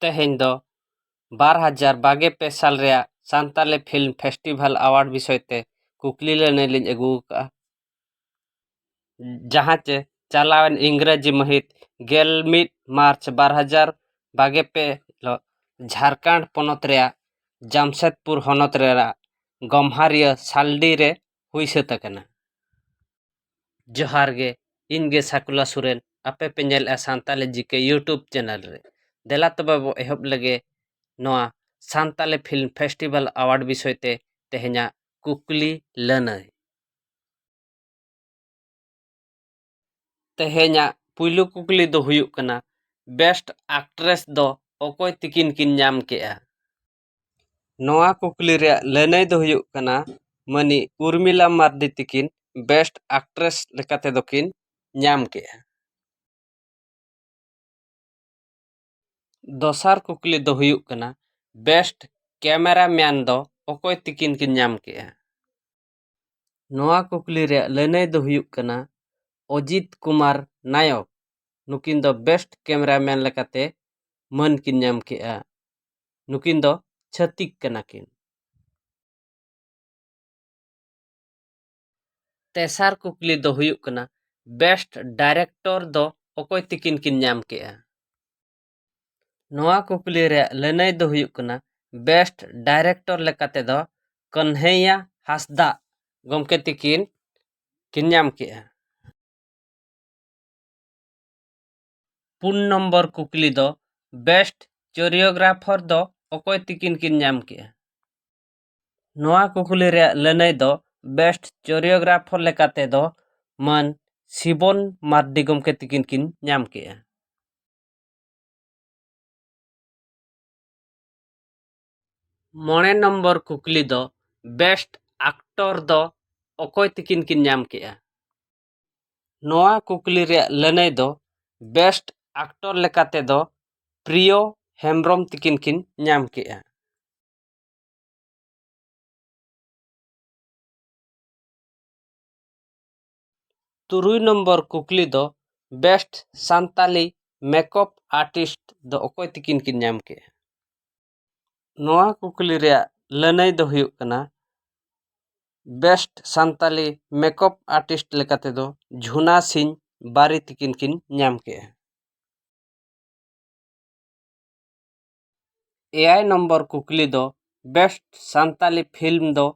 ᱛᱮᱦᱮᱧ ᱫᱚ ᱵᱟᱨ ᱦᱟᱡᱟᱨ ᱵᱟᱜᱮ ᱯᱮ ᱥᱟᱞ ᱨᱮᱭᱟᱜ ᱥᱟᱱᱛᱟᱲᱤ ᱯᱷᱤᱞᱢ ᱯᱷᱮᱥᱴᱤᱵᱷᱮᱞ ᱮᱣᱟᱨᱰ ᱵᱤᱥᱚᱭ ᱛᱮ ᱠᱩᱠᱞᱤ ᱞᱟᱹᱱᱟᱹᱭ ᱞᱤᱧ ᱟᱹᱜᱩ ᱟᱠᱟᱫᱼᱟ ᱡᱟᱦᱟᱸ ᱪᱮ ᱪᱟᱞᱟᱣᱮᱱ ᱤᱝᱨᱮᱡᱤ ᱢᱟᱹᱦᱤᱛ ᱜᱮᱞ ᱢᱤᱫ ᱢᱟᱨᱪ ᱵᱟᱨ ᱦᱟᱡᱟᱨ ᱵᱟᱜᱮ ᱯᱮ ᱦᱤᱞᱳᱜ ᱡᱷᱟᱲᱠᱷᱚᱸᱰ ᱯᱚᱱᱚᱛ ᱨᱮᱭᱟᱜ ᱡᱟᱢᱥᱮᱫᱽᱯᱩᱨ ᱦᱚᱱᱚᱛ ᱨᱮᱱᱟᱜ ᱜᱚᱢᱦᱟᱨᱤᱭᱟᱹ ᱥᱟᱞᱰᱤ ᱨᱮ ᱦᱩᱭ ᱥᱟᱹᱛ ᱟᱠᱟᱱᱟ ᱡᱚᱦᱟᱨ ᱜᱮ ᱤᱧ ᱜᱮ ᱥᱟᱠᱩᱞᱟ ᱥᱚᱨᱮᱱ ᱟᱯᱮ ᱯᱮ ᱧᱮᱞᱮᱫᱼᱟ ᱥᱟᱱᱛᱟᱞᱤ ᱡᱤ ᱠᱮ ᱤᱭᱩᱴᱩᱵᱽ ᱪᱮᱱᱮᱞ ᱨᱮ ᱫᱮᱞᱟ ᱛᱚᱵᱮ ᱵᱚ ᱮᱦᱚᱵ ᱞᱮᱜᱮ ᱱᱚᱣᱟ ᱥᱟᱱᱛᱟᱞᱤ ᱯᱷᱤᱞᱢ ᱯᱷᱮᱥᱴᱤᱵᱷᱮᱞ ᱟᱣᱟᱨᱰ ᱵᱤᱥᱚᱭ ᱛᱮ ᱛᱮᱦᱮᱧᱟᱜ ᱠᱩᱠᱞᱤ ᱞᱟᱹᱱᱟᱹᱭ ᱛᱮᱦᱮᱧᱟᱜ ᱯᱩᱭᱞᱩ ᱠᱩᱠᱞᱤ ᱫᱚ ᱦᱩᱭᱩᱜ ᱠᱟᱱᱟ ᱵᱮᱥᱴ ᱟᱠᱴᱨᱮᱥ ᱫᱚ ᱚᱠᱚᱭ ᱛᱤᱠᱤᱱ ᱠᱤᱱ ᱧᱟᱢ ᱠᱮᱜᱼᱟ ᱱᱚᱣᱟ ᱠᱩᱠᱞᱤ ᱨᱮᱭᱟᱜ ᱞᱟᱹᱱᱟᱹᱭ ᱫᱚ ᱦᱩᱭᱩᱜ ᱠᱟᱱᱟ ᱢᱟᱹᱱᱤᱡ ᱩᱨᱢᱤᱞᱟ ᱢᱟᱨᱰᱤ ᱛᱟᱹᱠᱤᱱ ᱵᱮᱥᱴ ᱟᱠᱴᱨᱮᱥ ᱞᱮᱠᱟ ᱛᱮᱫᱚ ᱠᱤᱱ ᱧᱟᱢ ᱠᱮᱜᱼᱟ ᱫᱚᱥᱟᱨ ᱠᱩᱠᱞᱤ ᱫᱚ ᱦᱩᱭᱩᱜ ᱠᱟᱱᱟ ᱵᱮᱥᱴ ᱠᱮᱢᱮᱨᱟ ᱢᱮᱱ ᱫᱚ ᱚᱠᱚᱭ ᱛᱟᱹᱠᱤᱱ ᱠᱤᱱ ᱧᱟᱢ ᱠᱮᱜᱼᱟ ᱱᱚᱣᱟ ᱠᱩᱠᱞᱤ ᱨᱮᱭᱟᱜ ᱞᱟᱹᱱᱟᱹᱭ ᱫᱚ ᱦᱩᱭᱩᱜ ᱠᱟᱱᱟ ᱚᱡᱤᱛ ᱠᱩᱢᱟᱨ ᱱᱟᱭᱚᱠ ᱱᱩᱠᱤᱱ ᱫᱚ ᱵᱮᱥᱴ ᱠᱮᱢᱮᱨᱟ ᱢᱮᱱ ᱞᱮᱠᱟᱛᱮ ᱢᱟᱹᱱ ᱠᱤᱱ ᱧᱟᱢ ᱠᱮᱫᱼᱟ ᱱᱩᱠᱤᱱ ᱫᱚ ᱪᱷᱟᱹᱛᱤᱠ ᱠᱟᱱᱟ ᱠᱤᱱ᱾ ᱛᱮᱥᱟᱨ ᱠᱩᱠᱞᱤ ᱫᱚ ᱦᱩᱭᱩᱜ ᱠᱟᱱᱟ ᱵᱮᱥᱴ ᱰᱟᱭᱨᱮᱠᱴᱚᱨ ᱫᱚ ᱚᱠᱚᱭ ᱛᱤᱠᱤᱱ ᱠᱤᱱ ᱧᱟᱢ ᱠᱮᱫᱼᱟ? ᱱᱚᱣᱟ ᱠᱩᱠᱞᱤ ᱨᱮᱭᱟᱜ ᱞᱟᱹᱱᱟᱹᱭ ᱫᱚ ᱦᱩᱭᱩᱜ ᱠᱟᱱᱟ ᱵᱮᱥᱴ ᱰᱟᱭᱨᱮᱠᱴᱚᱨ ᱞᱮᱠᱟ ᱛᱮᱫᱚ ᱠᱟᱹᱱᱦᱟᱹᱭᱭᱟ ᱦᱟᱸᱥᱫᱟᱜ ᱜᱚᱢᱠᱮ ᱛᱤᱠᱤᱱ ᱠᱤᱱ ᱧᱟᱢ ᱠᱮᱜᱼᱟ ᱯᱩᱱ ᱱᱚᱢᱵᱚᱨ ᱠᱩᱠᱞᱤ ᱫᱚ ᱵᱮᱥᱴ ᱪᱚᱨᱤᱭᱳᱜᱨᱟᱯᱷᱚᱨ ᱫᱚ ᱚᱠᱚᱭ ᱛᱤᱠᱤᱱ ᱠᱤᱱ ᱧᱟᱢ ᱠᱮᱜᱼᱟ ᱱᱚᱣᱟ ᱠᱩᱠᱞᱤ ᱨᱮᱭᱟᱜ ᱞᱟᱹᱱᱟᱹᱭ ᱫᱚ ᱵᱮᱥᱴ ᱪᱚᱨᱤᱭᱳᱜᱨᱟᱯᱷᱚᱨ ᱞᱮᱠᱟ ᱛᱮᱫᱚ ᱢᱟᱹᱱ ᱥᱤᱵᱚᱱ ᱢᱟᱨᱰᱤ ᱜᱚᱢᱠᱮ ᱛᱤᱠᱤᱱ ᱠᱤᱱ ᱧᱟᱢ ᱠᱮᱜᱼᱟ ᱢᱚᱬᱮ ᱱᱚᱢᱵᱚᱨ ᱠᱩᱠᱞᱤ ᱫᱚ ᱵᱮᱥᱴ ᱟᱠᱴᱚᱨ ᱫᱚ ᱚᱠᱚᱭ ᱛᱤᱠᱤᱱ ᱠᱤᱱ ᱧᱟᱢ ᱠᱮᱜᱼᱟ ᱱᱚᱣᱟ ᱠᱩᱠᱞᱤ ᱨᱮᱭᱟᱜ ᱞᱟᱹᱱᱟᱹᱭ ᱫᱚ ᱵᱮᱥᱴ ᱟᱠᱴᱚᱨ ᱞᱮᱠᱟ ᱛᱮᱫᱚ ᱯᱨᱤᱭᱚ ᱦᱮᱢᱵᱨᱚᱢ ᱛᱤᱠᱤᱱ ᱠᱤᱱ ᱧᱟᱢ ᱠᱮᱜᱼᱟ ᱛᱩᱨᱩᱭ ᱱᱚᱢᱵᱚᱨ ᱠᱩᱠᱞᱤ ᱫᱚ ᱵᱮᱥᱴ ᱥᱟᱱᱛᱟᱞᱤ ᱢᱮᱠᱚᱯ ᱟᱨᱴᱤᱥᱴ ᱫᱚ ᱚᱠᱚᱭ ᱛᱤᱠᱤᱱ ᱠᱤᱱ ᱧᱟᱢ ᱠᱮᱜᱼᱟ ᱱᱚᱣᱟ ᱠᱩᱠᱞᱤ ᱨᱮᱭᱟᱜ ᱞᱟᱹᱱᱟᱹᱭ ᱫᱚ ᱦᱩᱭᱩᱜ ᱠᱟᱱᱟ ᱵᱮᱥᱴ ᱥᱟᱱᱛᱟᱞᱤ ᱢᱮᱠᱚᱯ ᱟᱨᱴᱤᱥᱴ ᱞᱮᱠᱟ ᱛᱮᱫᱚ ᱡᱷᱩᱱᱟ ᱥᱤᱝ ᱵᱟᱨᱤ ᱛᱤᱠᱤᱱ ᱠᱤᱱ ᱧᱟᱢ ᱠᱮᱜᱼᱟ ᱮᱭᱟᱭ ᱱᱚᱢᱵᱚᱨ ᱠᱩᱠᱞᱤ ᱫᱚ ᱵᱮᱥᱴ ᱥᱟᱱᱛᱟᱲᱤ ᱯᱷᱤᱞᱢ ᱫᱚ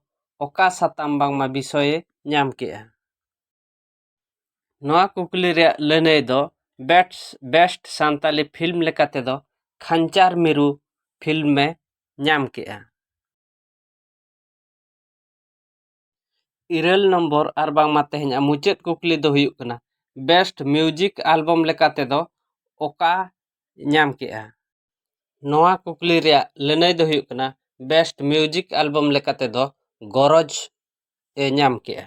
ᱚᱠᱟ ᱥᱟᱛᱟᱢ ᱵᱟᱝᱢᱟ ᱵᱤᱥᱚᱭᱮ ᱧᱟᱢ ᱠᱮᱫᱼᱟ ᱱᱚᱣᱟ ᱠᱩᱠᱞᱤ ᱨᱮᱭᱟᱜ ᱞᱟᱹᱱᱟᱹᱭ ᱫᱚ ᱵᱮᱥᱴ ᱵᱮᱥᱴ ᱥᱟᱱᱛᱟᱲᱤ ᱯᱷᱤᱞᱢ ᱞᱮᱠᱟ ᱛᱮᱫᱚ ᱠᱷᱟᱧᱪᱟᱨ ᱢᱤᱨᱩ ᱯᱷᱤᱞᱢᱮ ᱧᱟᱢ ᱠᱮᱫᱼᱟ ᱤᱨᱟᱹᱞ ᱱᱚᱢᱵᱚᱨ ᱟᱨ ᱵᱟᱝᱢᱟ ᱛᱮᱦᱮᱧᱟᱜ ᱢᱩᱪᱟᱹᱫ ᱠᱩᱠᱞᱤ ᱫᱚ ᱦᱩᱭᱩᱜ ᱠᱟᱱᱟ ᱵᱮᱥᱴ ᱢᱤᱭᱩᱡᱤᱠ ᱮᱞᱵᱟᱢ ᱞᱮᱠᱟ ᱛᱮᱫᱚ ᱚᱠᱟ ᱧᱟᱢ ᱠᱮᱜᱼᱟ ᱱᱚᱣᱟ ᱠᱩᱠᱞᱤ ᱨᱮᱭᱟᱜ ᱞᱟᱹᱱᱟᱹᱭ ᱫᱚ ᱦᱩᱭᱩᱜ ᱠᱟᱱᱟ ᱵᱮᱥᱴ ᱢᱤᱭᱩᱡᱤᱠ ᱮᱞᱵᱟᱢ ᱞᱮᱠᱟ ᱛᱮᱫᱚ ᱜᱚᱨᱚᱡᱽ ᱮ ᱧᱟᱢ ᱠᱮᱜᱼᱟ